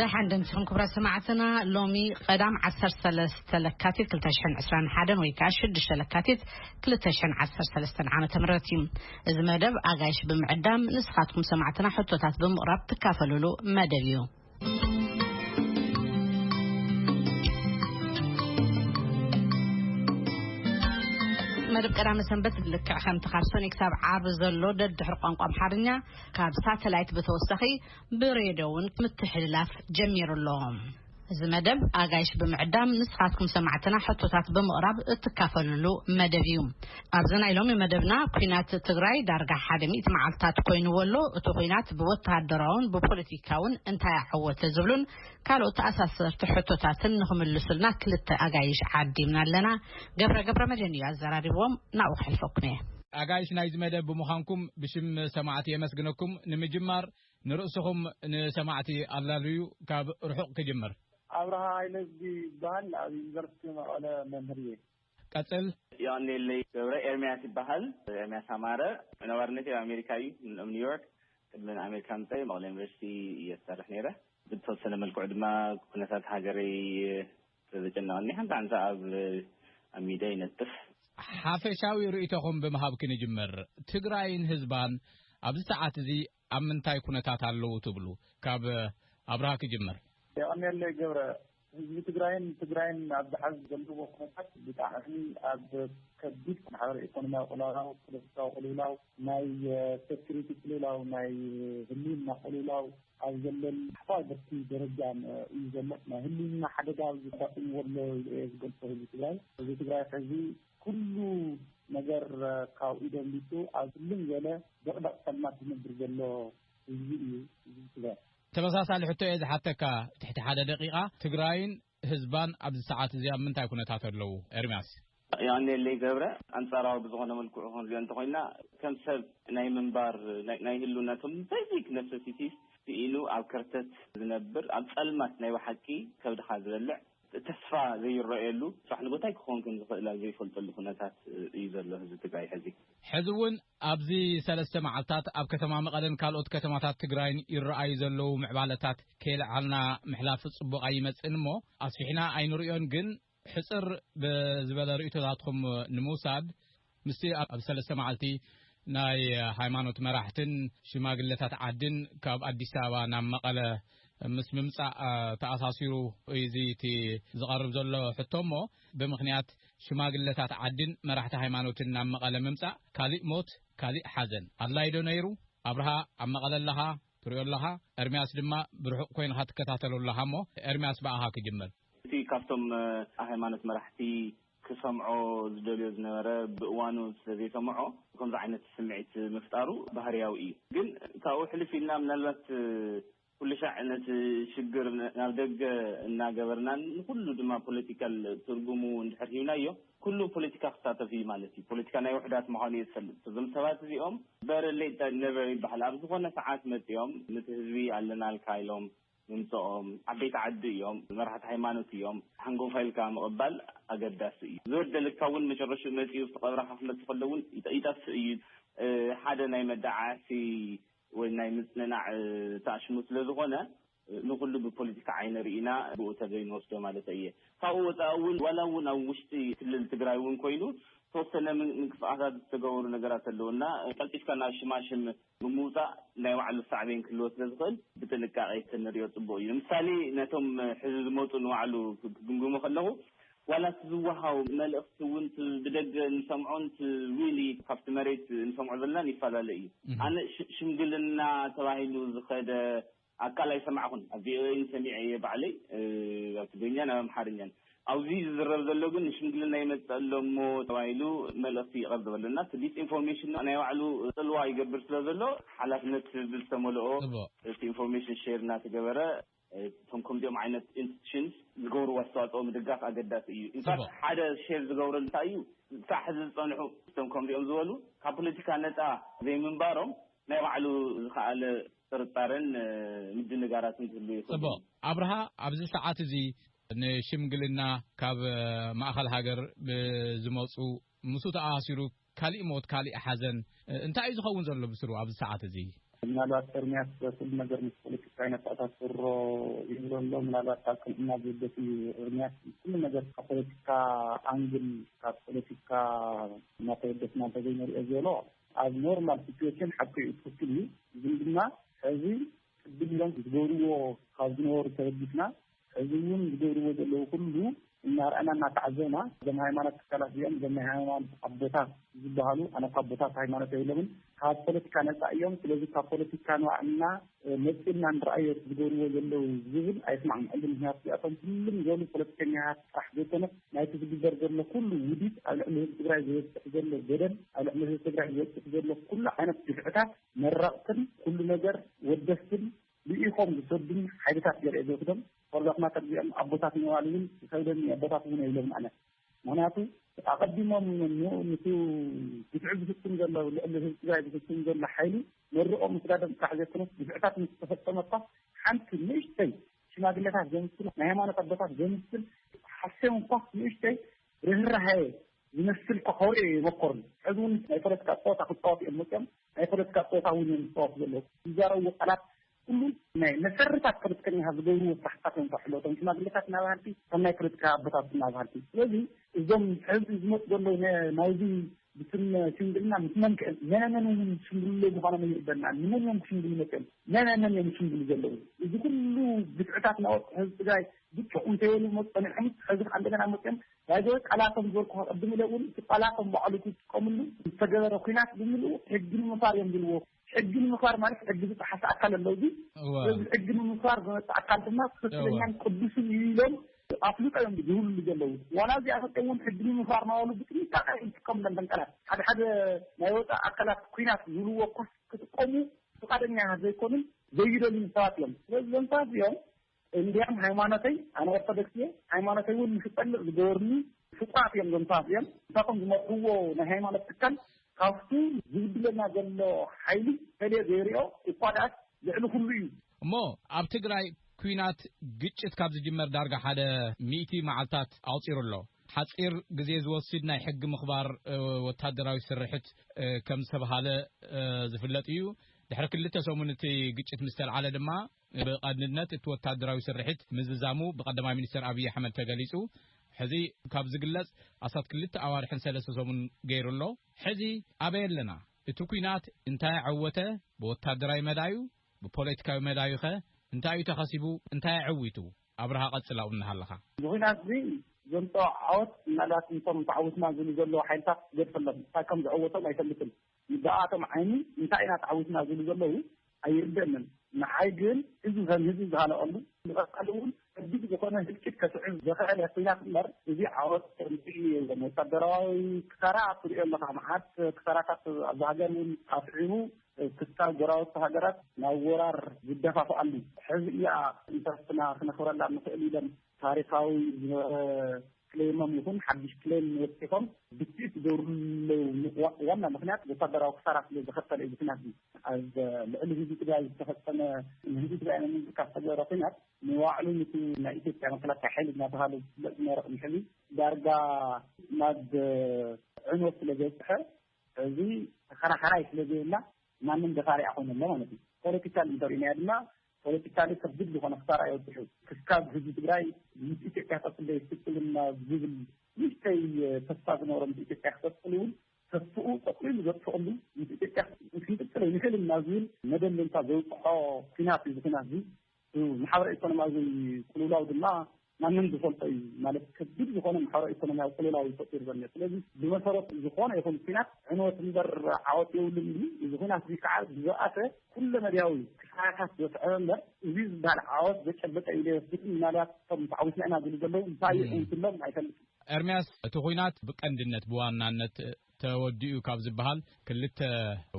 ደሓን ዶ ንስኹም ክብራት ሰማዕትና ሎሚ ቐዳም ዓሰርተ ሰለስተ ለካቲት ክልተ ሽሕን ዕስራን ሓደን ወይ ከዓ ሽዱሽተ ለካቲት ክልተ ሽሕን ዓሰርተ ሰለስተን ዓመተ ምህረት እዩ እዚ መደብ ኣጋይሽ ብምዕዳም ንስኻትኩም ሰማዕትና ሕቶታት ብምቕራብ ትካፈልሉ መደብ እዩ መደብ ቀዳመ ሰንበት ልክዕ ከምቲ ካብ ሰኒ ክሳብ ዓርቢ ዘሎ ደድሕሪ ቋንቋ ኣምሓርኛ ካብ ሳተላይት ብተወሳኺ ብሬድዮ እውን ምትሕልላፍ ጀሚሩ ኣሎ። እዚ መደብ ኣጋይሽ ብምዕዳም ንስኻትኩም ሰማዕትና ሕቶታት ብምቕራብ እትካፈልሉ መደብ እዩ ኣብዚ ናይ ሎሚ መደብና ኩናት ትግራይ ዳርጋ ሓደ ሚእቲ መዓልትታት ኮይኑዎ ኣሎ እቲ ኩናት ብወተሃደራውን ብፖለቲካውን እንታይ ኣዐወተ ዝብሉን ካልኦት ተኣሳሰርቲ ሕቶታትን ንኽምልሱልና ክልተ ኣጋይሽ ዓዲምና ኣለና። ገብረ ገብረመድህን እዩ ኣዘራሪብዎም፣ ናብኡ ከሕልፈኩም እየ። ኣጋይሽ ናይዚ መደብ ብምዃንኩም ብሽም ሰማዕቲ የመስግነኩም። ንምጅማር ንርእስኹም ንሰማዕቲ ኣላልዩ። ካብ ርሑቕ ክጅምር። ኣብርሃ ሃይለ ዝብሃል ኣብ ዩኒቨርሲቲ መቐለ መምህር እየ። ቀጽል። የቐንየለይ ገብረ። ኤርምያስ ይበሃል፣ ኤርምያስ ኣማረ። ነባርነተይ ኣብ ኣሜሪካ እዩ፣ ኣብ ኒውዮርክ። ቅድሚ ንኣሜሪካ ምጻይ ኣብ መቐለ ዩኒቨርሲቲ እየ ዝሰርሕ ነይረ። ብዝተወሰነ መልክዑ ድማ ኩነታት ሃገረይ ስለዘጨነቐኒ ሓንቲ ሓንቲ ሰዓብ ኣብ ሚድያ ይነጥፍ። ሓፈሻዊ ርእይቶኹም ብምሃብኪ ንጅምር። ትግራይን ህዝባን ኣብዚ ሰዓት እዚ ኣብ ምንታይ ኩነታት ኣለዉ ትብሉ? ካብ ኣብርሃ ክጅምር። የቐንየለይ ገብረ፣ ህዝቢ ትግራይን ትግራይን ኣብዚ ሐዚ ዘለዎ ኩነታት ብጣዕሚ ኣብ ከቢድ ማሕበረ ኢኮኖሚያዊ ቅልውላው፣ ፖለቲካዊ ቅልውላው፣ ናይ ሴኩሪቲ ቅልውላው፣ ናይ ህልውና ቅልውላው ኣብ ዘለሉ ሓፋ ብርኪ ደረጃ እዩ ዘሎ። ናይ ህልውና ሓደጋ ኣጋጢምዎ ኣሎ ኢለ እየ ዝገልፆ ህዝቢ ትግራይ። ህዝቢ ትግራይ ሐዚ ኩሉ ነገር ካብኡ ደሊጹ ኣብ ጽልም ዝበለ ድቕድቕ ጸልማት ዝነብር ዘሎ ህዝቢ እዩ ህዝቢ ትግራይ። ተመሳሳሊ ሕቶ እየ ዝሓተካ ትሕቲ ሓደ ደቂቃ ትግራይን ህዝባን ኣብዚ ሰዓት እዚ ኣብ ምንታይ ኩነታት ኣለው ኤርምያስ። የቐንየለይ ገብረ፣ ኣንጻራዊ ብዝኾነ መልክዑ ክንሪኦ እንተኾይንና ከም ሰብ ናይ ምንባር ናይ ህልውና ከም በዚክ ነሰሲቲስ ስኢኑ ኣብ ከርተት ዝነብር ኣብ ጸልማት ናይ ብሓቂ ከብድኻ ዝበልዕ፣ ተስፋ ዘይረኣየሉ ፃሕ ንጎታይ ክኾን ከምዝኽእል ኣብ ዘይፈልጠሉ ኩነታት እዩ ዘሎ ህዝቢ ትግራይ ሕዚ። ሕዚ እውን ኣብዚ ሰለስተ መዓልታት ኣብ ከተማ መቐለን ካልኦት ከተማታት ትግራይን ይረኣዩ ዘለዉ ምዕባለታት ከይለዓልና ምሕላፍ ፅቡቕ ኣይመፅእን እሞ ኣስፊሕና ኣይንሪኦን ግን ሕፅር ብዝበለ ርኢቶታትኹም ንምውሳድ ምስቲ ኣብ ሰለስተ መዓልቲ ናይ ሃይማኖት መራሕትን ሽማግለታት ዓድን ካብ ኣዲስ ኣበባ ናብ መቐለ ምስ ምምፃእ ተኣሳሲሩ እዩ እዚ እቲ ዝቐርብ ዘሎ ሕቶ እሞ ብምኽንያት ሽማግለታት ዓድን መራሕቲ ሃይማኖትን ናብ መቐለ ምምፃእ ካሊእ ሞት ካሊእ ሓዘን ኣድላይ ዶ ነይሩ? ኣብርሃ ኣብ መቐለ ኣለኻ ትሪኦ ኣለኻ፣ ኤርሚያስ ድማ ብርሑቕ ኮይንኻ ትከታተሎ ኣለኻ እሞ ኤርሚያስ ብኣኻ ክጅምር። እቲ ካብቶም ሃይማኖት መራሕቲ ክሰምዖ ዝደልዮ ዝነበረ ብእዋኑ ስለ ዘይሰመዖ ከምዚ ዓይነት ስምዒት ምፍጣሩ ባህርያዊ እዩ። ግን ካብኡ ሕልፍ ኢልና ምናልባት ኩልሻዕ ነቲ ሽግር ናብ ደገ እናገበርናን ንኹሉ ድማ ፖለቲካል ትርጉሙ እንድሕር ሂብናዮ ኩሉ ፖለቲካ ክሳተፍ እዩ ማለት እዩ። ፖለቲካ ናይ ውሑዳት ምዃኑ እየ ዝፈልጥ። እዞም ሰባት እዚኦም በረር ሌት ኔቨር ይበሃል ኣብ ዝኾነ ሰዓት መጺኦም ነቲ ህዝቢ ኣለናልካ ኢሎም ምምጸኦም ዓበይቲ ዓዲ እዮም መራሕቲ ሃይማኖት እዮም ሓንጎፋ ኢልካ ምቕባል ኣገዳሲ እዩ ዝበደለካ ውን መጨረሽኡ መጺኡ ኣብቲ ቀብራኻ ክመጽእ ከሎ ውን ይጠፍእ እዩ ሓደ ናይ መዳዓዓሲ ወይ ናይ ምጽንናዕ ተኣሽሙ ስለ ዝኾነ ንኹሉ ብፖለቲካ ዓይኒ ርኢና ብኡ ተበይ ንወስዶ ማለት ኣየ ካብኡ ወጻኢ ውን ዋላ ውን ኣብ ውሽጢ ክልል ትግራይ ውን ኮይኑ ተወሰነ ምንቅስቓሳት ዝተገበሩ ነገራት ኣለዉ እና ቀልጢፍካ ናብ ሽማሽም ብምውጻእ ናይ ባዕሉ ሳዕቤን ክህልዎ ስለ ዝኽእል ብጥንቃቄ ተንሪኦ ጽቡቅ እዩ ንምሳሌ ነቶም ሕዚ ዝመጹ ንባዕሉ ክግምግሞ ከለኹ ዋላ እቲ ዝወሃቡ መልእኽቲ እውን እቲ ብደገ እንሰምዖን እቲ ሪሊ ካብቲ መሬት እንሰምዖ ዘለናን ይፈላለ እዩ ኣነ ሽምግልና ተባሂሉ ዝኸደ ኣካል ኣይሰማዕኹን ኣብ ቪኦኤ ግን ሰሚዐ እየ ባዕለይ ኣብ ትግርኛን ኣብ ኣምሓርኛን ኣብዚ ዝዝረብ ዘሎ ግን ንሽምግልና ይመጽእ ኣሎ እሞ ተባሂሉ መልእኽቲ ይቐርበሉ እና እቲ ዲስኢንፎርሜሽን ድማ ናይ ባዕሉ ጽልዋ ይገብር ስለ ዘሎ ሓላፍነት ብዝተመልኦ እቲ ኢንፎርሜሽን ሼር እናተገበረ እቶም ከምዚኦም ዓይነት ኢንስቲቱሽንስ ዝገብርዎ ኣስተዋጽኦ ምድጋፍ ኣገዳሲ እዩ ኢንፋክት ሓደ ሼር ዝገብረሉ እንታይ እዩ ክሳዕ ሕዚ ዝጸንሑ እቶም ከምዚኦም ዝበሉ ካብ ፖለቲካ ነጻ ዘይምንባሮም ናይ ባዕሉ ዝኸኣለ ጥርጣረን ምድንጋራትን ክህሉ ይኽእል'ዩ። ጽቡቕ ኣብርሃ፣ ኣብዚ ሰዓት እዚ ንሽምግልና ካብ ማእኸል ሃገር ብዝመጹ ምስኡ ተኣሳሲሩ ካሊእ ሞት ካሊእ ሓዘን እንታይ እዩ ዝኸውን ዘሎ ብስሩ ኣብዚ ሰዓት እዚ? ምናልባት ኤርምያስ ኩሉ ነገር ምስ ፖለቲካ ይነተኣሳስሮ ይብሎ ኣሎ። ምናልባት ካብ ቅንዕና ዝብገስ እዩ። ኤርምያስ ኩሉ ነገር ካብ ፖለቲካ ኣንግል ካብ ፖለቲካ እናተበገስና እንተዘይንሪኦ ዝበሎ ኣብ ኖርማል ሲትዌሽን ሓቂ'ዩ ትኽክል እዩ ግን ድማ ሕዚ ቅድም ኢሎም ዝገብርዎ ካብ ዝነበሩ ተበጊስና ሕዚ እውን ዝገብርዎ ዘለዉ ኩሉ እናርኣና እናተዓዘብና እዞም ሃይማኖት ትካላት እዚኦም እዞም ናይ ሃይማኖት ኣቦታት ዝበሃሉ ኣነ እኳ ኣቦታት ሃይማኖት ኣይብሎምን ካብ ፖለቲካ ነፃ እዮም ስለዚ ካብ ፖለቲካ ንባዕልና መፂእና ንርኣዮ እቲ ዝገብርዎ ዘለዉ ዝብል ኣይስማዕምዐሉን። ምኽንያቱ እዚኣቶም ትልም ዝበሉ ፖለቲከኛታት ጥራሕ ዘይኮነስ ናይቲ ዝግበር ዘሎ ኩሉ ውዲት ኣብ ልዕሊ ህዝቢ ትግራይ ዝበፅሕ ዘሎ በደል ኣብ ልዕሊ ህዝቢ ትግራይ ዝበፅሕ ዘሎ ኩሉ ዓይነት ግፍዕታት መረቕትን ኩሉ ነገር ወደስትን ልኢኾም ዝሰዱን ሓይልታት ገለ እየ ዝወስዶም። ፎርዛት ማተር እዚኦም ኣቦታት ምባል እውን ይኸብደኒ ኣቦታት እውን የብሎምን ኣነ። ምክንያቱ ኣቐዲሞም ንቲ ግፍዒ ዝፍፅም ዘሎ ልዕሊ ህዝቢ ትግራይ ዝፍፅም ዘሎ ሓይሊ መርቖ ምስዳዶም ጥራሕ ዘይኮነስ ግፍዕታት ምስ ተፈፀመ እኳ ሓንቲ ንእሽተይ ሽማግሌታት ዘምስል ናይ ሃይማኖት ኣቦታት ዘምስል ሓሴም እኳ ንእሽተይ ርህራሀ ዝመስል እኳ ከውርዒ የመኮርን ሕዚ እውን ናይ ፖለቲካ ፀወታ ክፃወቱ እዮም መፅኦም ናይ ፖለቲካ ፀወታ እውን እዮም ዝፃወቱ ዘለዉ ዝዛረብዎ ቃላት ኩሉ ናይ መሰርታት ፖለቲከኛታት ዝገብርዎ ስራሕትታት እዮም ከውሕልዎ እቶም ሽማግለታትና በሃልቲ እቶም ናይ ፖለቲካ ኣቦታትና በሃልቲ ስለዚ እዞም ሕዚ ዝመፁ ዘለዉ ናይዚ ብስም ሽምግልና ምስ መን ከ መነ መን እውን ዝሽምግልሉ ምዃኖም ኣይርደናን ንመን እዮም ክሽምግሉ መፅኦም መነ መን እዮም ዝሽምግሉ ዘለዉ እዚ ኩሉ ግፍዕታት ናወርቁ ህዝቢ ትግራይ ብጭቕ እንተይበሉ መፅ ፀኒሖም ሕዚ ከዓ እንደገና መፅኦም ዳይዘ ቃላቶም ዝበልኩ ከቐድም ኢለ እውን እቲ ቃላቶም ባዕሉ ክጥቀምሉ ዝተገበረ ኩናት ብምልኡ ሕጊ ንምፋር እዮም ዝብልዎ ሕጊ ንምኽባር ማለት ሕጊ ዝጠሓሰ ኣካል ኣሎ እዚ እዚ ሕጊ ንምኽባር ዝመፅእ ኣካል ድማ ትኽክለኛን ቅዱስን እዩ ኢሎም ኣፍልጦ እዮም ዝህብሉ ዘለዉ ዋላ እዚኣ መፅኦም እውን ሕጊ ንምኽባር ናበሉ ብጥንቃቐ እዮም ዝጥቀሙለን እተን ቃላት ሓደ ሓደ ናይ ወፃኢ ኣካላት ኩናት ዝብልዎ ኮስ ክጥቀሙ ፍቃደኛ ዘይኮኑን ዘይደልዩን ሰባት እዮም ስለዚ እዞም ሰባት እዚኦም እንድያም ሃይማኖተይ ኣነ ኦርቶዶክስ እየ ሃይማኖተይ እውን ምስ እጸልእ ዝገበሩኒ ፍጡራት እዮም እዞም ሰባት እዚኦም ንሳቶም ዝመርሕዎ ናይ ሃይማኖት ትካል ካብቱ ዝብድለና ዘሎ ሓይሊ ፈልየ ዘይሪኦ እኳ ድኣስ ልዕሊ ኩሉ እዩ። እሞ ኣብ ትግራይ ኲናት ግጭት ካብ ዝጅመር ዳርጋ ሓደ ሚእቲ መዓልታት ኣቑጺሩ ኣሎ። ሓጺር ግዜ ዝወስድ ናይ ሕጊ ምኽባር ወታደራዊ ስርሕት ከም ዝተብሃለ ዝፍለጥ እዩ። ድሕሪ ክልተ ሰሙን እቲ ግጭት ምስ ተልዓለ ድማ ብቐንድነት እቲ ወታደራዊ ስርሒት ምዝዛሙ ብቀዳማይ ሚኒስተር ኣብይ ኣሕመድ ተገሊጹ። ሕዚ ካብ ዝግለጽ ኣስታት ክልተ ኣዋርሕን ሰለስተ ሰሙን ገይሩ ኣሎ። ሕዚ ኣበይ ኣለና? እቲ ኲናት እንታይ ኣዐወተ? ብወታደራዊ መዳዩ? ብፖለቲካዊ መዳዩኸ እንታይ'ዩ ተኸሲቡ? እንታይ ኣዐዊቱ? ኣብርሃ ቀጽል ኣብኡ እናሃለኻ። እዚ ኲናት'ዚ ዘምጽኦ ዓወት ምናልባት ነቶም ተዓዊትና ዝብሉ ዘለዉ ሓይልታት ክገድፈሎም፣ እንታይ ከም ዘዐወቶም ኣይፈልጥን። ይበኣኣቶም ዓይኒ እንታይ ኢና ተዓዊትና ዝብሉ ዘለዉ ኣይርደእንን ንዓይ ግን እዚ ከም ህዝቢ ዝሃለቀሉ ንቀፃሊ እውን ከቢድ ዝኮነ ህልቂት ከስዕብ ዘክኣለ ኩናት እምበር እዚ ዓወት ከምዚ ዞም ወታደራዊ ክሳራ ትሪኦ ኣለካ መዓት ክሳራታት ኣብዚ ሃገር እውን ኣስዒቡ ክሳብ ጎራብቲ ሃገራት ናብ ወራር ዝደፋፍኣሉ ሕዚ እያ ንሰብትና ክነክብረላ ንክእል ኢሎም ታሪኻዊ ዝነበረ ክሌሞም ይኹን ሓድሽ ክሌም ወፂኾም ብትእት ዝገብርሉ ዋና ምክንያት ወታደራዊ ክሳራ ስለ ዘኸተለ እዩ ኩናት እዩ ኣብ ልዕሊ ህዝቢ ትግራይ ዝተፈፀመ ንህዝቢ ትግራይ መንግስቲ ካብ ተገበረ ኩናት ንባዕሉ ንቲ ናይ ኢትዮጵያ መከላከያ ሓይሊ እናተባሃለ ዝፍለጥ ዝነበረ ቅድሚ ሕዚ ዳርጋ ናብ ዕንወት ስለ ዘብፅሐ እዚ ተኸራኸራይ ስለ ዘይብላ ማንም ደፋሪያ ኮይነ ኣሎ ማለት እዩ ፖለቲካል እንተሪእናያ ድማ ፖለቲካሊ ከቢድ ዝኾነ ክሳራ እዩ ኣብፂሑ። ክስካብ ህዝቢ ትግራይ ምስ ኢትዮጵያ ከፅለ ይፍፅምልና ዝብል ንእሽተይ ተስፋ ዝነበሮ ምስ ኢትዮጵያ ክቅፅል እውን ተስፍኡ ጠቅሊሉ ዘጥፍእሉ ምስ ኢትዮጵያ ክንቅፅል ኣይንኽእልን ናብ ዝብል መደምደምታ ዘብፅሖ ኩናት እዩ። እዚ ኩናት እዚ ማሕበረ ኢኮኖሚያዊ ቅልውላው ድማ ማንም ዝፈልጦ እዩ ማለት ከቢድ ዝኾነ ማሕበራዊ ኢኮኖሚያዊ ቅልውላው እዩ ፈጢሩ ዘሎ። ስለዚ ብመሰረቱ ዝኾነ ይኹን ኩናት ዕንወት እምበር ዓወት የብሉን እዩ። እዚ ኩናት እዚ ከዓ ብዝበኣሰ ኩለ መድያዊ ክሳራታት ዘስዐበ እምበር እዚ ዝበሃል ዓወት ዘጨበጠ እዩ ዶ ኣይወስድን ምናልባት እቶም ተዓዊትና ኢና ዝብሉ ዘለዉ እንታይ እዩ ዕውትሎም ኣይፈልጥን። ኤርምያስ እቲ ኩናት ብቀንድነት ብዋናነት ተወዲኡ ካብ ዝበሃል ክልተ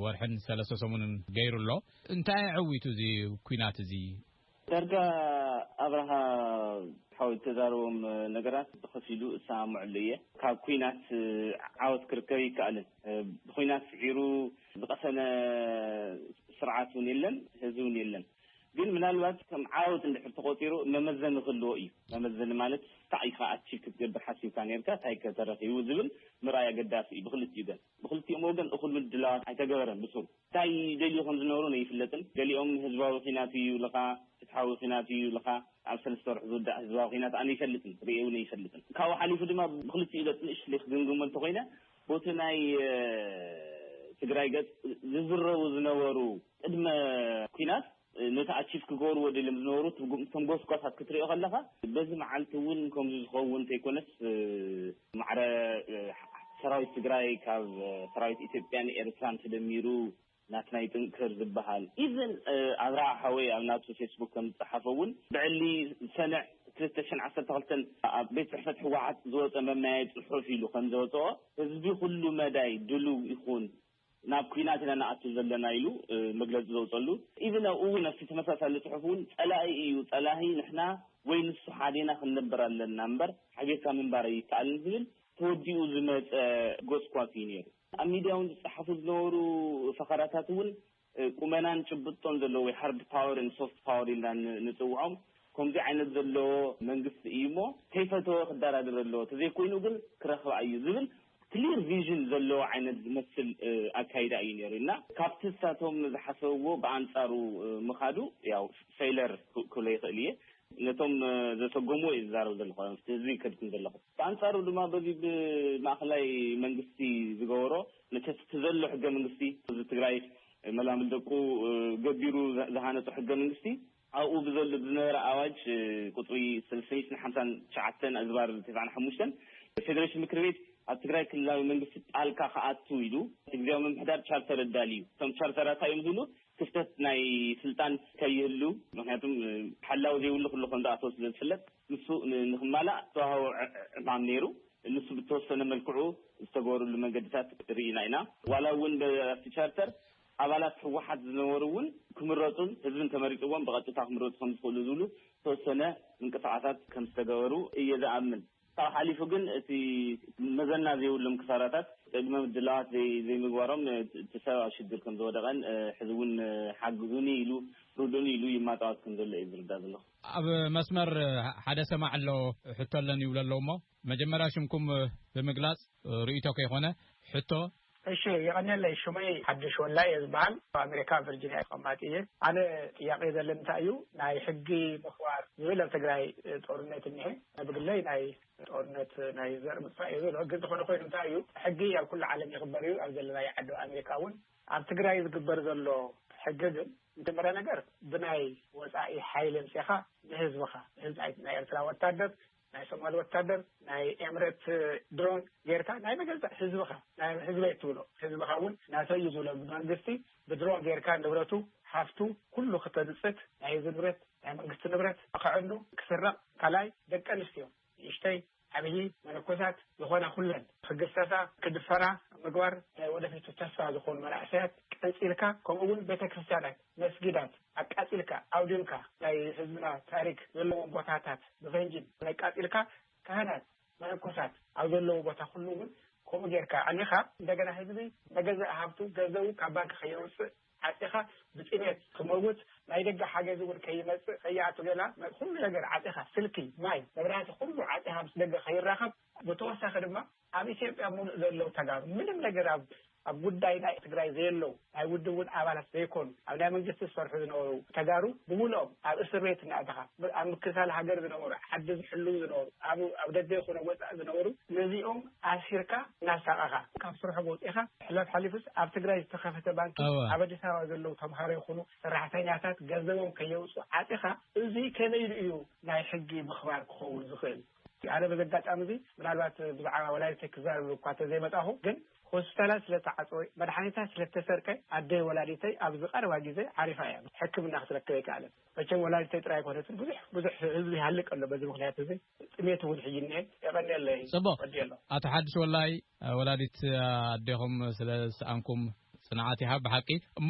ወርሕን ሰለስተ ሰሙንን ገይሩ ኣሎ። እንታይ ኣዐዊቱ እዚ ኩናት እዚ? ዳርጋ ኣብርሃ ሓወይ ዝተዛረቦም ነገራት ብኸፊሉ እሰማመዐሉ እየ። ካብ ኩናት ዓወት ክርከብ ኣይከኣልን። ብኹናት ስዒሩ ዝቐሰነ ስርዓት እውን የለን፣ ህዝቢ እውን የለን። ግን ምናልባት ከም ዓወት እንድሕር ተቖፂሩ መመዘኒ ክህልዎ እዩ። መመዘኒ ማለት እንታይ ኢኻ ኣቺቭ ክትገብር ሓሲብካ ነይርካ እንታይ ከ ተረኺቡ ዝብል ምርኣይ ኣገዳሲ እዩ ብኽልቲኡ ገፅ። ብኽልቲኦም ወገን እኹል ምድላዋት ኣይተገበረን ብሱሩ። ታይ ይደልዩ ከምዝነበሩ ነይፍለጥን ገሊኦም ህዝባዊ ኺናት እዩ ልኻ ፍትሓዊ ኺናት እዩ ልኻ ኣብ ሰለስተ ወርሒ ዝውዳእ ህዝባዊ ኺናት ኣነ ይፈልጥን ሪኤ ውን ኣይፈልጥን ካብኡ ሓሊፉ ድማ ብኽልቲኡ ገፅ ንእሽትለይ ክግምግሞ እንተኾይነ ቦቲ ናይ ትግራይ ገፅ ዝዝረቡ ዝነበሩ ቅድመ ኲናት ነቲ ኣቺቭ ክገብርዎ ደልዮም ዝነበሩ እቶም ጎስጓሳት ክትሪኦ ከለኻ በዚ መዓልቲ እውን ከምዚ ዝኸውን እንተይኮነስ ማዕረ ሰራዊት ትግራይ ካብ ሰራዊት ኢትዮጵያን ኤርትራን ተደሚሩ ናትና ይጥንክር ዝበሃል ኢቭን ኣብርሃ ሓወይ ኣብ ናቱ ፌስቡክ ከም ዝፀሓፎ እውን ብዕሊ ሰነ ክልተ ሽሕን ዓሰርተ ክልተን ኣብ ቤት ፅሕፈት ህወሓት ዝወፀ መመያየጢ ፅሑፍ ኢሉ ከም ዘወፀኦ ህዝቢ ኩሉ መዳይ ድሉው ይኹን ናብ ኲናት ኢና ንኣቱ ዘለና ኢሉ መግለጺ ዘውጸሉ ኢቭን ኣብኡ ውን ኣብቲ ተመሳሳሊ ጽሑፍ ውን ጸላኢ እዩ ጸላሂ ንሕና ወይ ንሱ ሓዴና ክንነብር ኣለና እምበር ሓቢርካ ምንባር ኣይከኣልን ዝብል ተወዲኡ ዝመጸ ጎስኳስ እዩ ኔሩ። ኣብ ሚድያ ውን ዝጸሓፉ ዝነበሩ ፈኸራታት ውን ቁመናን ጭብጦን ዘለዎ ወይ ሃርድ ፓወር ን ሶፍት ፓወር ኢልና ንጽውዖም ኮምዚ ዓይነት ዘለዎ መንግስቲ እዩሞ ከይፈተወ ክደራደር ኣለዎ ተዘይኮይኑ ግን ክረኽባ እዩ ዝብል ክሊር ቪዥን ዘለዎ ዓይነት ዝመስል ኣካይዳ እዩ ነይሩ እና ካብቲ ንሳቶም ዝሓሰብዎ ብኣንፃሩ ምኻዱ ያው ፌይለር ክብሎ ይኽእል እየ። ነቶም ዘሰጎምዎ እየ ዝዛረብ ዘለኹ ኣብቲ ህዝቢ እይከድኩን ዘለኹ። ብኣንፃሩ ድማ በዚ ብማእኸላይ መንግስቲ ዝገበሮ መቸስ እቲ ዘሎ ሕገ መንግስቲ እዚ ትግራይ መላምል ደቁ ገቢሩ ዝሃነፆ ሕገ መንግስቲ ኣብኡ ብዘሉ ብዝነበረ ኣዋጅ ቁፅሪ ሰለስተ ሚእትን ሓምሳን ትሽዓተን ኣዝባር ተስዓን ሓሙሽተን ፌደሬሽን ምክር ቤት ኣብ ትግራይ ክልላዊ መንግስቲ ጣልካ ክኣቱ ኢሉ ንግዚያዊ ምምሕዳር ቻርተር ኣዳልዩ። እቶም ቻርተራት እንታይ እዮም ዝብሉ ክፍተት ናይ ስልጣን ከይህሉ ምክንያቱ ሓላዊ ዘይብሉ ክሉ ከም ዝኣተወ ስለ ዝፍለጥ ንሱ ንክማላእ ዝተዋህቦ ዕማም ነይሩ። ንሱ ብተወሰነ መልክዑ ዝተገበርሉ መንገድታት ርኢና ኢና። ዋላ እውን ኣብቲ ቻርተር ኣባላት ህወሓት ዝነበሩ እውን ክምረፁን ህዝቢ እንተመሪፅዎም ብቐጥታ ክምረፁ ከምዝኽእሉ ዝብሉ ዝተወሰነ ምንቅስቓሳት ከምዝተገበሩ እየ ዝኣምን። ካብኡ ሓሊፉ ግን እቲ መዘና ዘይብሎም ክሳራታት ቅድመ ምድላዋት ዘይምግባሮም እቲ ሰብ ኣብ ሽግር ከምዝወደቐን ሕዚ እውን ሓግዙኒ ኢሉ ርድኡኒ ኢሉ ይማፃወት ከምዘሎ እየ ዝርዳእ ዘለኹ። ኣብ መስመር ሓደ ሰማዒ ኣሎ ሕቶ ኣለኒ ይብሉ ኣለዉ እሞ መጀመርያ ሽምኩም ብምግላፅ ርእይቶ ከይኮነ ሕቶ እሺ የቀኔለይ ሹመይ ሓዱሽ ወላይ እየ ዝበሃል ኣብ ኣሜሪካ ቨርጂንያ ተቀማጢ እየ ኣነ ጥያቄ ዘለኒ እንታይ እዩ ናይ ሕጊ ምክባር ዝብል ኣብ ትግራይ ጦርነት እኒሀ ኣነ ብግለይ ናይ ጦርነት ናይ ዘር ምጥፋእ እየ ዝብሎ ግን ዝኮነ ኮይኑ እንታይ እዩ ሕጊ ኣብ ኩሉ ዓለም ይክበር እዩ ኣብ ዘለናይ ዓዲ ኣብ ኣሜሪካ እውን ኣብ ትግራይ ዝግበር ዘሎ ሕጊ ግን መጀመርያ ነገር ብናይ ወፃኢ ሓይሊ ኣምፂእካ ንህዝብካ ንህዝቢ ናይ ኤርትራ ወታደር ናይ ሶማል ወታደር ናይ ኤምሬት ድሮን ጌርካ ናይ መገዛእ ህዝብኻ ናይ ህዝበይ እትብሎ ህዝብኻ እውን ናተይ እዩ ዝብሎ ብመንግስቲ ብድሮን ጌርካ ንብረቱ ሃፍቱ ኩሉ ክተንፅት ናይ ህዝቢ ንብረት ናይ መንግስቲ ንብረት ክዕኑ ክስረቕ ካልኣይ ደቂ ኣንስትዮ ንእሽተይ ዓብዪ መነኮሳት ዝኾና ኩለን ክግሰሳ ክድፈራ ምግባር ናይ ወደፊቱ ተስፋ ዝኾኑ መናእሰያት ቀንፂልካ ከምኡ እውን ቤተክርስትያናት መስጊዳት ኣቃጺልካ ኣውዲምካ ናይ ህዝብና ታሪክ ዘለዎም ቦታታት ብፈንጂ ኣቃጺልካ ካህናት መነኮሳት ኣብ ዘለውዎ ቦታ ኩሉ እውን ከምኡ ጌርካ ኣዕኒኻ እንደገና ህዝቢ መገዛኢ ሃብቱ ገንዘቡ ካብ ባንኪ ከየውጽእ ዓጺኻ ብጥሜት ክመውት ናይ ደገ ሓገዝ እውን ከይመጽእ ከይኣቱ ገላ ኩሉ ነገር ዓጺኻ ስልኪ ማይ መብራህቲ ኩሉ ዓጺኻ ምስ ደገ ከይራኸብ ብተወሳኺ ድማ ኣብ ኢትዮጵያ ሙሉእ ዘለው ተጋሩ ምንም ነገር ኣብ ኣብ ጉዳይ ናይ ትግራይ ዘየለው ናይ ውድብ እውን ኣባላት ዘይኮኑ ኣብ ናይ መንግስቲ ዝሰርሑ ዝነበሩ ተጋሩ ብሙሉኦም ኣብ እስር ቤት እናእተኻ ኣብ ምክልካል ሃገር ዝነበሩ ዓዲ ዝሕልው ዝነበሩ ኣብ ኣብ ደገ ይኹን ኣብ ወፃኢ ዝነበሩ ነዚኦም ኣሲርካ እናሳቐኻ ካብ ስርሖም ኣውፂእኻ ሕላፍ ሓሊፉስ ኣብ ትግራይ ዝተኸፈተ ባንኪ እወ ኣብ ኣዲስ ኣበባ ዘለው ተምሃሮ ይኹኑ ሰራሕተኛታት ገንዘቦም ከየውፅኡ ዓፂኻ እዙይ ከመይ ኢሉ እዩ ናይ ሕጊ ምኽባር ክኸውን ዝኽእል? ኣነ በዚ ኣጋጣሚ እዚ ምናልባት ብዛዕባ ወላዲተይ ክዛረብ እኳ ተዘይመጻኹ ግን ሆስፒታላት ስለ ተዓጽወ መድሓኒታ ስለ ተሰርቀ ኣደይ ወላዲተይ ኣብዚ ቀረባ ግዜ ዓሪፋ እያ ሕክምና ክትረክብ ኣይከኣለን መቸም ወላዲተይ ጥራይ ኣይኮነትን ብዙሕ ብዙሕ ህዝቢ ይሃልቅ ኣሎ በዚ ምኽንያት እዚ ጥሜት እውን ሕጂ እኒሀ የቐንየለይ ጽቡቕ ወዲየሎ። ኣቶ ሓድሽ ወላይ ወላዲት ኣዴኹም ስለ ዝሰኣንኩም ጽንዓት ይሃብ ብሓቂ እሞ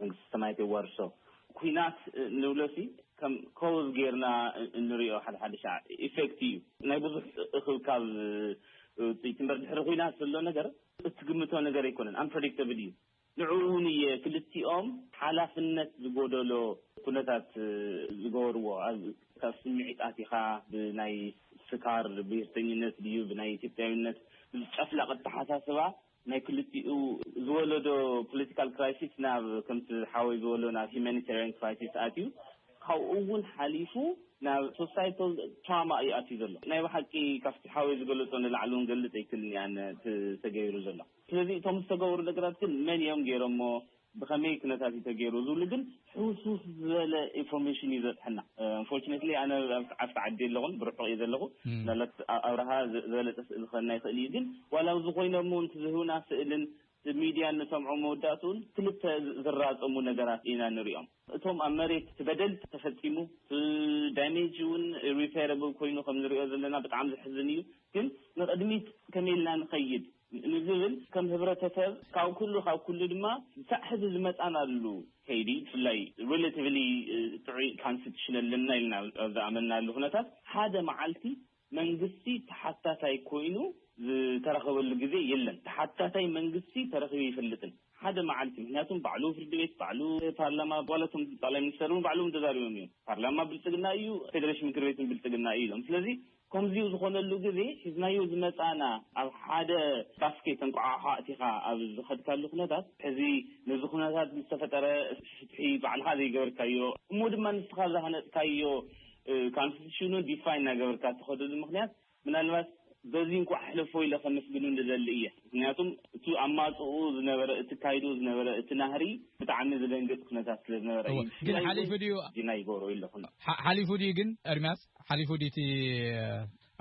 መንግስተ ሰማያት የዋርሶ። ኩናት ንብሎሲ ከም ኮዝ ጌርና እንሪኦ ሓደሓደ ሻዕ ኢፌክት እዩ ናይ ብዙሕ እኽብካብ ውጽኢት እምበር ድሕሪ ኩናት ዘሎ ነገር እትግምቶ ነገር ኣይኮነን ኣምፕረዲክተብል እዩ ንዕኡ እውን እየ ክልቲኦም ሓላፍነት ዝጎደሎ ኩነታት ዝገበርዎ ኣብ ካብ ስምዒት ኣቲኻ ብናይ ስካር ብሄርተኝነት ድዩ ብናይ ኢትዮጵያዊነት ብዚ ጨፍላቕ ኣተሓሳስባ ናይ ክልቲኡ ዝወለዶ ፖለቲካል ክራይሲስ ናብ ከምቲ ሓወይ ዝበሎ ናብ ሂማኒታርያን ክራይሲስ ኣትዩ ካብኡ እውን ሓሊፉ ናብ ሶሳይታል ትራማ እዩ ኣትዩ ዘሎ ናይ ብሓቂ ካብቲ ሓወይ ዝገለፆ ንላዕሊ እውን ክገልፅ ኣይክእልን እያ እቲ ተገይሩ ዘሎ ስለዚ እቶም ዝተገበሩ ነገራት ግን መን እዮም ገይሮሞ ብኸመይ ኩነታት እዩ ተገይሩ ዝብሉ ግን ሕውስውስ ዝበለ ኢንፎርሜሽን እዩ ዝበፅሐና። ኣንፎርቹኔትሊ ኣነ ኣብቲ ዓዲ የለኹን ብርሑቕ እየ ዘለኹ ምናልባት ኣብ ኣብርሃ ዝበለፀ ስእሊ ክኸና ይኽእል እዩ ግን ዋላ ኣብዚ ኮይኖም እውን እቲ ዝህቡና ስእልን እቲ ሚድያ እንሰምዖ መወዳእትኡን ክልተ ዝራፀሙ ነገራት ኢና ንሪኦም። እቶም ኣብ መሬት እቲ በደል ተፈፂሙ እቲ ዳሜጅ እውን ሪፔረብል ኮይኑ ከም ንሪኦ ዘለና ብጣዕሚ ዘሕዝን እዩ ግን ንቕድሚት ከመይ ኢልና ንኸይድ? ንዝብል ከም ህብረተሰብ ካብ ኩሉ ካብ ኩሉ ድማ ክሳዕ ሕዚ ዝመጻናሉ ከይዲ ብፍላይ ሪለቲቭሊ ጥዑይ ካንስቲቱሽን ኣለና ኢልና ኣብ ዝኣመንናሉ ኩነታት ሓደ መዓልቲ መንግስቲ ተሓታታይ ኮይኑ ዝተረኸበሉ ግዜ የለን። ተሓታታይ መንግስቲ ተረኺቡ ኣይፈልጥን ሓደ መዓልቲ። ምክንያቱ ባዕሉ ፍርዲ ቤት፣ ባዕሉ ፓርላማ ዋላ እቶም ጠቕላይ ሚኒስተር እውን ባዕሎም ተዛሪቦም እዮም። ፓርላማ ብልጽግና እዩ፣ ፌደሬሽን ምክር ቤት እውን ብልጽግና እዩ ኢሎም። ስለዚ ከምዚኡ ዝኾነሉ ግዜ ሒዝናዮ ዝመጻእና ኣብ ሓደ ባስኬት እንቋዓሖ ኣእቲኻ ኣብ ዝኸድካሉ ኩነታት ሕዚ ነዚ ኩነታት ንዝተፈጠረ ፍትሒ ባዕልኻ ዘይገበርካዮ እሞ ድማ ንስኻ ዝሃነጽካዮ ካንስቲቱሽኑ ዲፋይ እናገበርካ እትኸደሉ ምኽንያት ምናልባት በዚ እንቋዕ ሕለፎ ኢለ ከመስግኑ ንደሊ እየ ምኽንያቱም እቲ ኣብ ማእጽኡ ዝነበረ እትካይዶ ዝነበረ እቲ ናህሪ ብጣዕሚ ዝደንግጽ ኩነታት ስለ ዝነበረ እየ ብፍላይ ውን ዲናይ ይገብሮ ኢለኹ። ሓሊፉ ድዩ ግን ኤርምያስ? ሓሊፉ ድዩ እቲ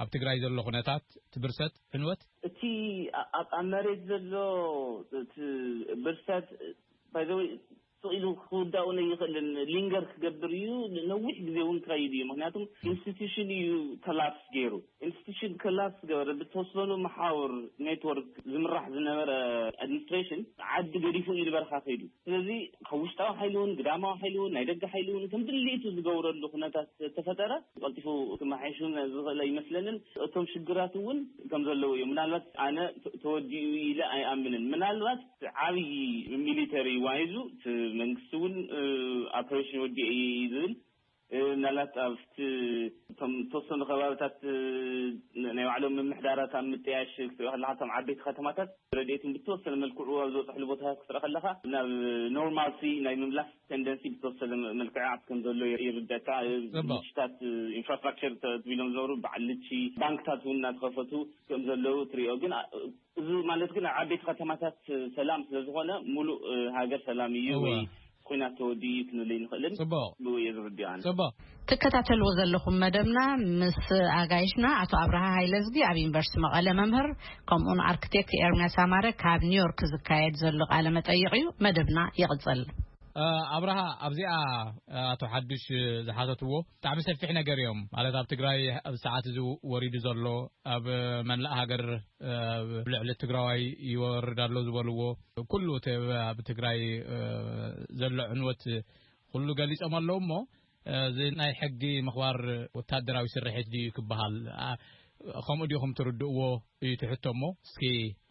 ኣብ ትግራይ ዘሎ ኩነታት፣ እቲ ብርሰት፣ ዕንወት? እቲ ኣብ መሬት ዘሎ እቲ ብርሰት ባይ ዘ ዌይ ስቕ ኢሉ ክውዳእውን ኣይኽእልን። ሊንገር ክገብር እዩ፣ ንነዊሕ ግዜ እውን ክኸይድ እዩ። ምኽንያቱ ኢንስቲትዩሽን እዩ ኮላፕስ ገይሩ። ኢንስቲትዩሽን ኮላፕስ ዝገበረ ብዝተወሰኑ መሓውር ኔትወርክ ዝምራሕ ዝነበረ ኣድሚኒስትሬሽን ዓዲ ገዲፉ እዩ ንበረኻ ከይዱ። ስለዚ ካብ ውሽጣዊ ሓይሊ እውን ግዳማዊ ሓይሊ እውን ናይ ደገ ሓይሊ እውን ከም ድሌቱ ዝገብረሉ ኩነታት ተተፈጠረ ቀልጢፉ ክመሓየሽ እውን ዝኽእል ኣይመስለንን። እቶም ሽግራት እውን ከም ዘለዉ እዮም። ምናልባት ኣነ ተወዲኡ እዩ ኢለ ኣይኣምንን። ምናልባት እቲ ዓብዪ ሚሊተሪ ዋይዙ እቲ መንግስቲ እውን ኣፕሬሽን ወዲኤ እየ እዩ ዝብል። ምናልባት ኣብቲ እቶም ዝተወሰኑ ከባብታት ናይ ባዕሎም ምምሕዳራት ኣብ ምጥያሽ ክትሪኦ ከለኻ እቶም ዓበይቲ ከተማታት ረድኤትን ብተወሰነ መልክዑ ኣብ ዝበፅሕሉ ቦታታት ክትርኢ ከለኻ ናብ ኖርማልሲ ናይ ምምላስ ቴንደንሲ ብተወሰነ መልክዕ ከም ዘሎ ይርደካ ልችታት ኢንፍራስትራክቸር ተቢሎም ዝነበሩ በዓል ልቺ ባንክታት እውን እናተኸፈቱ ከም ዘለዉ ትሪኦ ግን እዚ ማለት ግን ኣብ ዓበይቲ ከተማታት ሰላም ስለ ዝኾነ ሙሉእ ሃገር ሰላም እዩ ወይ ኹናት ተወዲኡ እዩ ክንብል ኣይንኽእልን። ብኡ እየ ዝርድኦ ኣነ። ትከታተልዎ ዘለኹም መደብና ምስ ኣጋይሽና ኣቶ ኣብርሃ ሃይለዝጊ ኣብ ዩኒቨርሲቲ መቐለ መምህር ከምኡውን ኣርክቴክት ኤርምያስ ኣማረ ካብ ኒውዮርክ ዝካየድ ዘሎ ቃለ መጠይቕ እዩ። መደብና ይቕፅል። ኣብርሃ ኣብዚኣ ኣቶ ሓዱሽ ዝሓተትዎ ብጣዕሚ ሰፊሕ ነገር እዮም ማለት ኣብ ትግራይ ኣብ ሰዓት እዚ ወሪዱ ዘሎ ኣብ መላእ ሃገር ብልዕሊ ትግራዋይ ይወርድ ኣሎ ዝበልዎ ኩሉ ኣብ ትግራይ ዘሎ ዕንወት ኩሉ ገሊፆም ኣለዉ እሞ እዚ ናይ ሕጊ ምኽባር ወታደራዊ ስርሒት ድዩ ክበሃል ከምኡ ዲኹም ትርድእዎ እዩ ትሕቶ እሞ እስኪ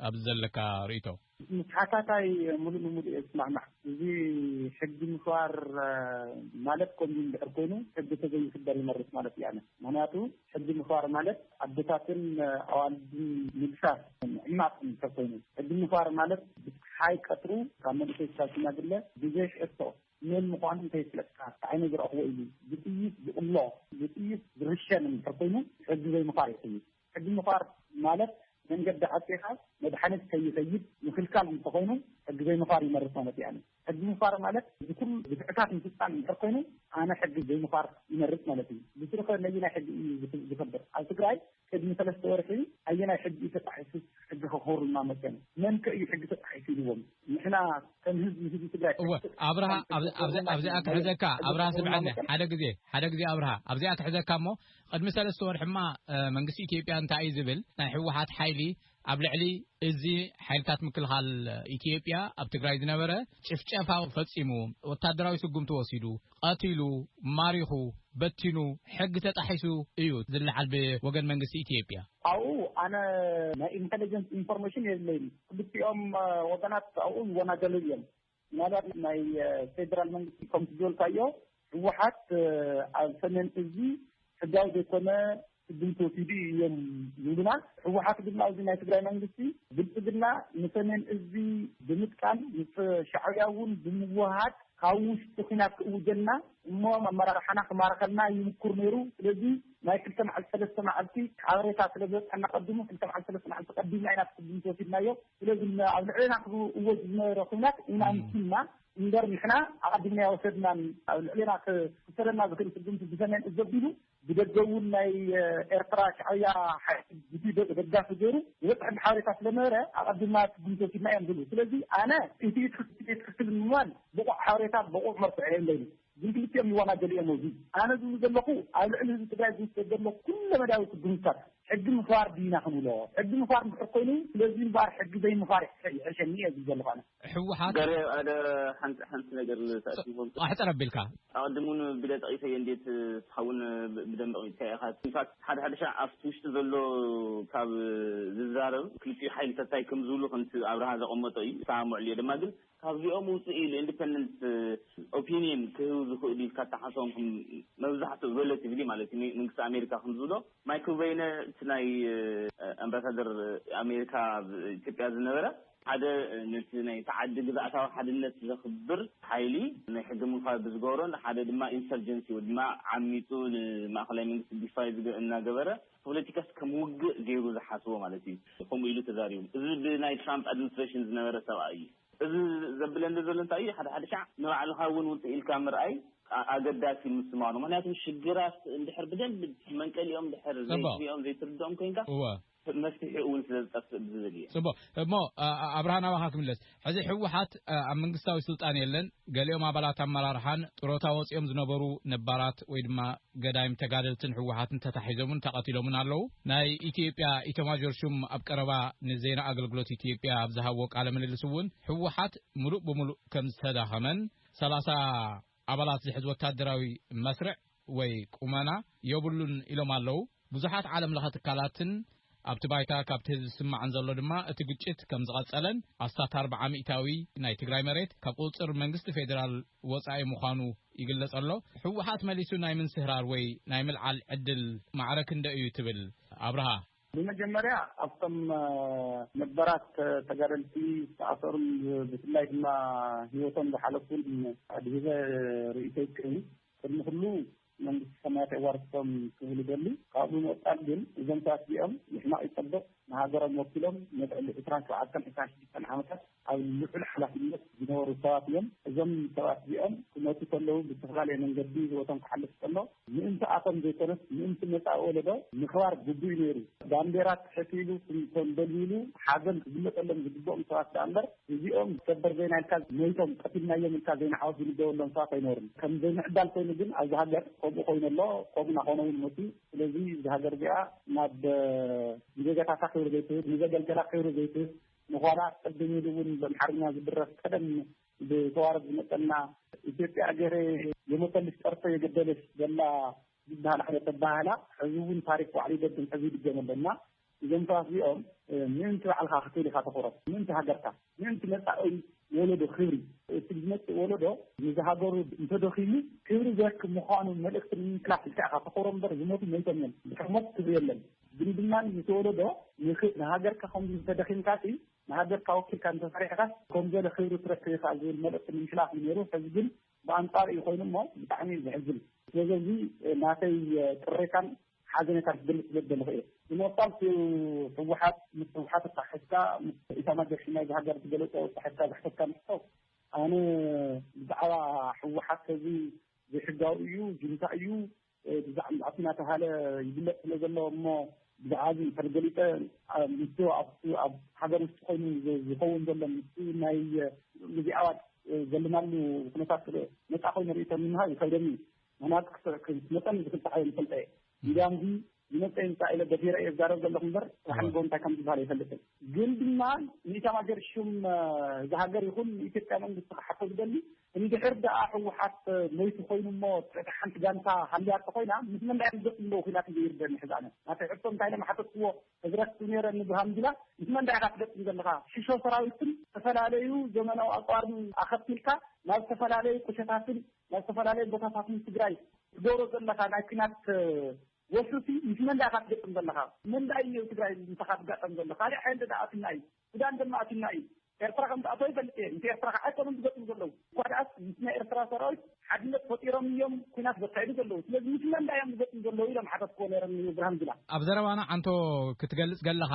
ኣብዚ ዘለካ ርእቶ ምስ ሓታታይ ሙሉእ ንሙሉእ እየ ዝስማዕማዕ። እዚ ሕጊ ምኽባር ማለት ከምዚ እንድሕር ኮይኑ ሕጊ ተዘይኽበር ይመርፅ ማለት እየ ኣነ። ምኽንያቱ ሕጊ ምኽባር ማለት ኣዶታትን ኣዋልድን ምግሳስ ምዕማፅ እንድሕር ኮይኑ ሕጊ ምኽባር ማለት ብፀሓይ ቀትሩ ካብ መንእሰይ ክሳብ ሽማግለ ብዘይ ሕቶ መን ምዃኑ እንተይፍለጥካ ብዓይነይ ዝረኣኹዎ ኢሉ ብጥይት ዝቕሎ ብጥይት ዝርሸን እንድሕር ኮይኑ ሕጊ ዘይምኽባር እዩ። ሕጊ ምኽባር ማለት መንገዲ ዓፂኻ መድሓኒት ከይኸይድ ምኽልካል እንተኾይኑ ሕጊ ዘይምኽባር ይመርስ ማለት ኣይኣምን። ሕጊ ምኽባር ማለት እዚ ኩሉ ግፍዕታት ምፍፃም እንድሕር ኮይኑ ኣነ ሕጊ ዘይምኽባር ይመርፅ ማለት እዩ። ብስሩ ከ ነየናይ ሕጊ እዩ ዝኽብር? ኣብ ትግራይ ቅድሚ ሰለስተ ወርሒ ኣየናይ ሕጊ እዩ ተጣሒሱ ሕጊ ከኽብሩልና መፅዮም? መን ከ እዩ ሕጊ ተጣሒሱ ኢልዎም? ንሕና ከም ህዝቢ ህዝቢ ትግራይ እወ ሕጊ ተጣሒሱ ኣብርሃ ኢልዎም ኣብ- ኣብዚኣ ክሕዘካ ኣብርሃ ስምዐኒ ሓደ ግዜ ሓደ ግዜ ኣብርሃ ኣብዚኣ ክሕዘካ እሞ ቕድሚ ሰለስተ ወርሒማ መንግስቲ ኢትዮጵያ እንታይ እዩ ዝብል ናይ ህወሓት ሓይሊ ኣብ ልዕሊ እዚ ሓይልታት ምክልኻል ኢትዮጵያ ኣብ ትግራይ ዝነበረ ጭፍጨፋ ፈፂሙ ወታደራዊ ስጉምቲ ወሲዱ ቐቲሉ ማሪኹ በቲኑ ሕጊ ተጣሒሱ እዩ ዝለዓል ብወገን መንግስቲ ኢትዮጵያ። ኣብኡ ኣነ ናይ ኢንተለጀንስ ኢንፎርሜሽን የብለይን። ክልቲኦም ወገናት ኣብኡ ይወናጀሉ እዮም። ምናልባት ናይ ፌደራል መንግስቲ ከም ዝበልካዮ ህወሓት ኣብ ሰሜን እዚ ሕጋዊ ዘይኮነ ስጉምቲ ወሲዱ እዮም ዝብሉና ህወሓት ድማ እዚ ናይ ትግራይ መንግስቲ ብልፅግና ንሰሜን እዚ ብምጥቃም ምስ ሻዕብያ እውን ብምውሃድ ካብ ውሽጢ ኩናት ክእውጀልና እሞ ኣመራርሓና ክማርኸልና ይምኩር ነይሩ ስለዚ ናይ ክልተ መዓልቲ ሰለስተ መዓልቲ ሓበሬታ ስለ ዝበፅሐና ቀዲሙ ክልተ መዓልቲ ሰለስተ መዓልቲ ቀዲምና ኢና ስጉምቲ ወሲድናዮ ስለዚ እሞ ኣብ ልዕሌና ክእወጅ ዝነበረ ኹናት ኢና ምሲና እምበር ንሕና ኣቐዲምና ኣይወሰድናን። ኣብ ልዕሌና ክውሰደና ዝኽእል ስጉምቲ ብሰሜን እዝ ኣቢሉ ብደገ እውን ናይ ኤርትራ ሻዕብያ ሓይሊ ደጋፊ ገይሩ ዝበፅሐሉ ሓበሬታ ስለነበረ ኣቐዲምና ስጉምቲ ወሲድና እዮም ዝብሉ። ስለዚ ኣነ ኢቲ ኢቲ ክትል ምባል ብቑዕ ሓበሬታ ብቑዕ መርትዖ የለይን። ግልግልቲኦም ይዋናጀሉ'ዮም እዙይ ኣነ ዝብሉ ዘለኹ ኣብ ልዕሊ ህዝቢ ትግራይ ዝውሰድ ዘሎ ኩለመዳያዊ ስጉምትታት ሕጊ ምኽባር ድዩ ኢና ክንብሎ ሕጊ ምኽባር እንድሕር ኮይኑ ስለዙይ እምበኣር ሕጊ ዘይምኽባር ይሕሸኒ እየ ዝብል ዘለኹ ኣነ። ሕወሓት። ገሬ ኣደ ሓንቲ ሓንቲ ነገር ልተኣሲቦም ስ። ኣሕጽር ኣቢልካ። ኣቐድም እውን ቢለ ጠቒሰዮ እንዴት ንስኻ እውን ብደንቢ ኣቕሚጥካዮ ኢኻ ኢንፋክት ሓደ ሓደ ሻዕ ኣብቲ ውሽጢ ዘሎ ካብ ዝዛረብ ክልቲኡ ሓይልታት ታይ ከምዝብሉ ከምቲ ኣብርሃ ዘቐመጦ እዩ እሰማመዐሉ እየ ድማ ግን ካብዚኦም ውፅእ ኢሉ Independent Opinion ክህቡ ዝኽእሉ ኢልካ እትሓስቦም ከም መብዛሕትኡ Relatively ማለት እዩ መንግስቲ ኣሜሪካ ከም ዝብሎ Michael Beyne እቲ ናይ ኣምባሳደር ኣሜሪካ ኣብ ኢትዮጵያ ዝነበረ ሓደ ነቲ ናይቲ ዓዲ ግዝኣታዊ ሓድነት ዘኽብር ሓይሊ ናይ ሕገ ምኽባር ብዝገበሮን ሓደ ድማ Insurgency ወይ ድማ ዓሚፁ ንማእኸላይ መንግስቲ Defy እናገበረ ፖለቲካስ ከም ውግእ ገይሩ ዝሓስቦ ማለት እዩ ከምኡ ኢሉ ተዛሪቡ እዚ ብናይ ትራምፕ ኣድምንስትሬሽን ዝነበረ ሰብኣይ እዩ። እዚ ዘብለኒ ዘሎ እንታይ እዩ ሓደ ሓደ ሻዕ ንባዕልኻ እውን ውፅእ ኢልካ ምርኣይ ኣገዳሲ ምስማኑ ምክንያቱ ሽግራት እንድሕር ብደንቢ መንቀሊኦም እንድሕር ዘይትሪኦም ዘይትርድኦም ኮይንካ መፍትሒኡ እውን ስለዝጠፍእ ብዝብል እየ። ፅቡቕ እሞ ኣብርሃ ናባኻ ክምለስ ሕዚ ህወሓት ኣብ መንግስታዊ ስልጣን የለን፣ ገሊኦም ኣባላት ኣመራርሓን ጥሮታ ወፂኦም ዝነበሩ ነባራት ወይ ድማ ገዳይም ተጋደልትን ህወሓትን ተታሒዞምን ተቐቲሎምን ኣለዉ። ናይ ኢትዮጵያ ኢተማዦር ሹም ኣብ ቀረባ ንዜና ኣገልግሎት ኢትዮጵያ ኣብ ዝሃብዎ ቃለ ምልልስ እውን ህወሓት ምሉእ ብምሉእ ከምዝተዳኸመን ሰላሳ ኣባላት ዝሕዝ ወታደራዊ መስርዕ ወይ ቁመና ዮብሉን ኢሎም ኣለው። ብዙሓት ዓለም ለኸ ትካላትን ኣብቲ ባይታ ካብቲ ህዝቢ ዝስማዕ እንዘሎ ድማ እቲ ግጭት ከም ዝቐጸለን ኣስታት ኣርብዓ ሚእታዊ ናይ ትግራይ መሬት ካብ ቁጽጽር መንግስቲ ፌደራል ወጻኢ ምዃኑ ይግለጽ ኣሎ። ህወሓት መሊሱ ናይ ምንስህራር ወይ ናይ ምልዓል ዕድል ማዕረ ክንደይ እዩ ትብል ኣብርሃ? ብመጀመርያ ኣብቶም ነባራት ተጋደልቲ ዝተኣሰሩን ብፍላይ ድማ ሂወቶም ዝሓለፉን ኣድሂበ ርእይቶይ ክህብ ቅድሚ ኩሉ መንግስቲ ሰማያት የዋርስቶም ክብል ይደሊ። ካብኡ ብምቕጻል ግን እዞም ሰባት እዚኦም ንሕማቕ ይጸብቕ ንሃገሮም ወኪሎም ንልዕሊ ዕስራን ሸውዓተን ዕስራን ሽዱሽተን ዓመታት ኣብ ልዑል ሓላፍነት ዝነበሩ ሰባት እዮም። እዞም ሰባት እዚኦም ክመጹ ከለዉ ብዝተፈላለየ መንገዲ ህይወቶም ክሓልፍ ከሎ ምእንቲ ኣቶም ዘይኮነስ ምእንቲ መጻኢ ወለዶ ምኽባር ግቡእ'ዩ ነይሩ። ባንዴራ ትሕት ኢሉ ተንበልቢሉ ሓዘን ክግለጸሎም ዝግብኦም ሰባት ደኣ እምበር እዚኦም ሰበር ዜና ኢልካ ሞይቶም ቀቲልናዮም ኢልካ ዜና ዓወት ዝንበበሎም ሰባት ኣይነበሩን። ከም ዘይምዕዳል ኮይኑ ግን ኣብዚ ሃገር ከምኡ ኮይኑ ኣሎ ከምኡ እናኾነ'ውን መጺኡ። ስለዚ እዛ ሃገር እዚኣ ናብ ንዜጋታታ ክብሪ ዘይትህብ ንዘገልገላ ክብሪ ዘይትህብ ንኋላ ቅድም ኢሉ እውን ብኣምሓርኛ ዝድረፍ ቀደም ብተዋረድ ዝመፀና ኢትዮጵያ እገረ የሞተልሽ ፀርፎ የገደለሽ ዘላ ዝበሃል ዓይነት ኣበሃህላ ሕዚ እውን ታሪክ ባዕሉ ይደግም ሕዚ ይድገም ኣሎ እና እዞም ሰባት እዚኦም ምእንቲ ባዕልካ ክትብል ኢካ ተኩረት ምእንቲ ሃገርካ ምእንቲ መፃኢ ወለዶ ክብሪ እቲ ዝመፅእ ወለዶ ንዚ ሃገሩ እንተደኺሙ ክብሪ ዘክ ምኳኑ መልእክቲ ንምምሕላፍ ኢልካ ኢካ ተኩሮ እምበር ዝሞቱ መይቶም እዮም ድሕሪ ሞት ክብሪ የለን ዝምድና ምስ ወለዶ ንሃገርካ ከምዚ እንተደኺምካሲ ንሃገርካ ወኪልካ እንተሰሪሕካስ ከምዘለ ክብሪ ትረክብ ኢኻ ዝብል መልእኽቲ ንምሕላፍ እዩ ነይሩ። ሕዚ ግን ብኣንጻሩ እዩ ኮይኑ እሞ ብጣዕሚ እዩ ዘሕዝን። ስለዚ እዚ ናተይ ቅሬታን ሓዘኔታን ክገልጽ ስለዝደለኹ እየ። ብምቕጻል እቲ ህወሓት ምስ ህወሓት ኣተሓሒዝካ ምስ ኢታማጆር ሹም ናይዛ ሃገር ዝገለጾ ኣተሓሒዝካ ዝሕተትካ ንሕቶ ኣነ ብዛዕባ ህወሓት እዚ ዘይሕጋዊ እዩ፣ ጁንታ እዩ፣ ብዛዕባ እናተባሃለ ይግለፅ ስለ ዘሎ እሞ ብዛዕባ እዚ እንተ ገሊፀ ምስ ኣብ ሃገር ውሽጢ ኮይኑ ዝኸውን ዘሎ ምስ ናይ እዚ ኣዋጅ ዘለናሉ ኩነታት ነፃ ኮይኑ ርእቶ ንምሃብ ይከብደኒ ምክንያቱ መጠን ዝፍታሕ እየ ንፈልጠ እየ እንዲያም እዚ ዝመፀ ይምፃ ኢለ ደፊረ እየ ዝዛረብ ዘለኹ እምበር ራሕንጎ እንታይ ከም ዝበሃል ኣይፈልጥን ግን ድማ ንኢታማጆር ሹም ዝሃገር ይኹን ንኢትዮጵያ መንግስቲ ክሓቶ ዝደሊ እንድሕር ደኣ ህወሓት ሞይቱ ኮይኑ እሞ ትሕቲ ሓንቲ ጋንታ ሃልያ እንተኾይና ምስ መን ድኣዮም ዝገጥሙ ዘለው ኹናት እዩ ዘይርደኣኒ ሕዚ ኣነ ናተይ ሕቶ እንታይ ኢለ ምሓተትክዎ ሕዚ ረሲዑ ነይረ እኒ ብርሃኑ ጁላ ምስ መን ድኣ ኢኻ ትገጥም ዘለኻ ሽሾ ሰራዊትን ዝተፈላለዩ ዘመናዊ ኣፅዋርን ኣኸቲልካ ናብ ዝተፈላለዩ ቁሸታትን ናብ ዝተፈላለዩ ቦታታትን ትግራይ ትገብሮ ዘለኻ ናይ ኲናት ወፍሪሲ ምስ መን ድኣ ኢኻ ትገጥም ዘለኻ መን ድኣ እዩ ትግራይ ምሳኻ ዝጋጠም ዘሎ ካሊእ ሓይሊ ድኣ ኣቲና እዩ ሱዳን ድማ ኣቲና እዩ ኤርትራ ከም ዝኣተወ ይፈልጥ እየ ምስ ኤርትራ ካዓ ኣይኮኑን ዝገጥሙ ዘለዉ እኳ ዳኣስ ምስ ናይ ኤርትራ ሰራዊት ሓድነት ፈጢሮም እዮም ኩናት ዘካይዱ ዘለዉ ስለዚ ምስ መን ዳኣ እዮም ዝገጥሙ ዘለዉ ኢሎም ሓተትክዎ ነይረ ንብርሃን ጁላ። ኣብ ዘረባና ዓንቶ ክትገልጽ ገለኻ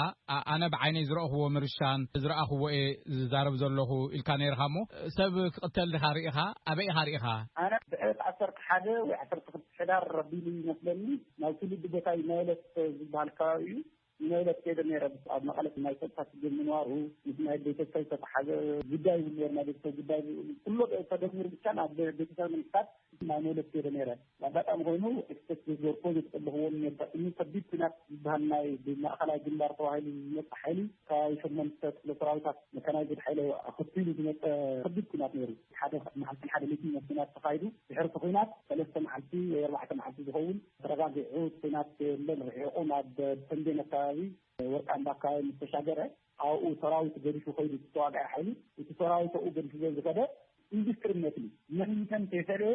ኣነ ብዓይነይ ዝረእኹዎ ምርሻን ዝረኣኹዎ እየ ዝዛረብ ዘለኹ ኢልካ ነይርኻ እሞ ሰብ ክቕተል ዲኻ ሪኢኻ ኣበይ ኢኻ ሪኢኻ? ኣነ ብዕለት ዓሰርተ ሓደ ወይ ዓሰርተ ክልተ ሕዳር ኣቢሉ እዩ መስለኒ ናብ ትውልዲ ቦታይ ናይለት ዝብሃል ከባቢ እዩ ንመግለጺ ከይደ ነይረ ኣብ መቐለ ናይ ፀጥታ ሽግር ምንባሩ ምስ ናይ ቤተሰብ ዝተተሓዘ ጉዳይ እውን ነይሩ ናይ ቤተሰብ ጉዳይ ኩሎ ተደሚሩ ብቻ ናብ ቤተሰብ ንምስካት ናይ መግለፂ ከይደ ነይረ ኣጋጣሚ ኮይኑ ኤክስፕሬስ ዝገበርኮ ዘጠለኽዎ ነርጋጥሚ ከቢድ ኩናት ዝበሃል ናይ ብማእኸላይ ግንባር ተባሂሉ ዝመፀ ሓይሊ ከባቢ ሸመንተ ክፍለ ሰራዊታት መካናይዝድ ሓይለ ኣኸቲሉ ዝመፀ ከቢድ ኩናት ነይሩ ሓደ መዓልትን ሓደ ሌትን ኩናት ተኻይዱ ድሕርቲ ኩናት ሰለስተ መዓልቲ ወይ ኣርባዕተ መዓልቲ ዝኸውን ተረጋጊዑ ኩናት ከየለ ርሒቑ ናብ ተምቤን ኣከባቢ ወርቃምባ ኣከባቢ ምስ ተሻገረ ኣብኡ ሰራዊት ገዲፉ ከይዱ እቲ ተዋጋኢ ሓይሊ እቲ ሰራዊት ኣብኡ ገዲፉ ዘዝኸደ ኢንዱስትሪ መትኒ መንተን ተይፈለየ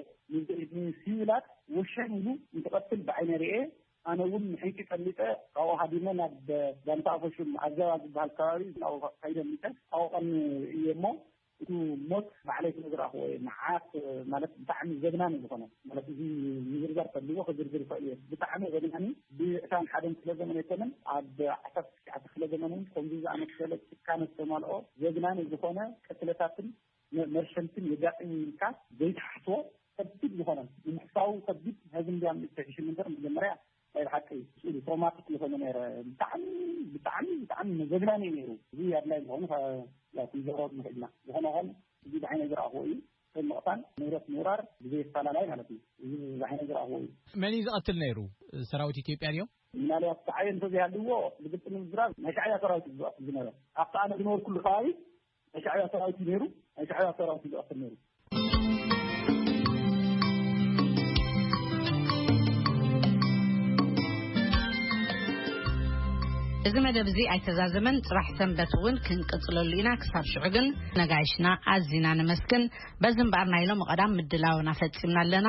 ንሲቪላት ወሸን ኢሉ እንትቐትል ብዓይነ ርኤ ኣነ እውን ንሕንቂ ቀሊጠ ካብኡ ሃዲመ ናብ ጋንታ ኣፈሹም ኣዘባ ዝበሃል ከባቢ ናብኡ ከይደ ሚተ ኣብኡ ቀኒ እየ እሞ ኢሉ ሞት ባዕለይ ስለ ዝረኣኹዎ እየ መዓት ማለት ብጣዕሚ ዘግናን እዩ ዝኾነ ማለት እዚ ምዝርዛር ተልዎ ክዝርዝር ይኽእል እየ ብጣዕሚ ዘግናኒ ብዕስራን ሓደን ክፍለ ዘመን ኣይኮነን ኣብ ዓሰርተ ትሽዓተ ክፍለ ዘመን እውን ከምዚ ዝኣመሰለ ጭካነ ዝተማልኦ ዘግናኒ ዝኾነ ቅትለታትን መርሸንትን የጋጥም እዩ ኢልካ ዘይትሓስቦ ከቢድ ዝኾነ ንምሕሳቡ ከቢድ ነዚ እንድያም ዝተሕሽም እምበር መጀመርያ ናይ ብሓቂ ስእሊ ትሮማቲክ ዝኾነ ነረ ብጣዕሚ ብጣዕሚ ብጣዕሚ መዘግናኒ እዩ ነይሩ እዚ ኣድላይ ዝኾኑ ያው ክንዘሮ ንኽእልና ዝኾነ ኾን እዚ ብዓይነ ዝረኣኽዎ እዩ ከም ምቕታል ንብረት ምውራር ብዘይ ኣፈላላይ ማለት እዩ እዚ ብዓይነ ዝረኣኽዎ እዩ መን እዩ ዝቐትል ነይሩ ሰራዊት ኢትዮጵያ ድዮም ምናልባት ተዓየ እንተዘይሃልዎ ብግልፂ ንምዝራብ ናይ ሻዕብያ ሰራዊት እዩ ዝቐትል ዝነበረ ኣብቲ ኣነ ዝነበርኩሉ ከባቢ ናይ ሻዕብያ ሰራዊት እዩ ነይሩ ናይ ሻዕብያ ሰራዊት እዩ ዝቐትል ነይሩ እዚ መደብ እዚ ኣይተዛዘመን ፅራሕ ሰንበት እውን ክንቅፅለሉ ኢና ክሳብ ሽዑ ግን ነጋይሽና ኣዝና ነመስግን በዚ እምበኣር ናይ ሎሚ ቀዳም ምድላውና ፈፂምና ኣለና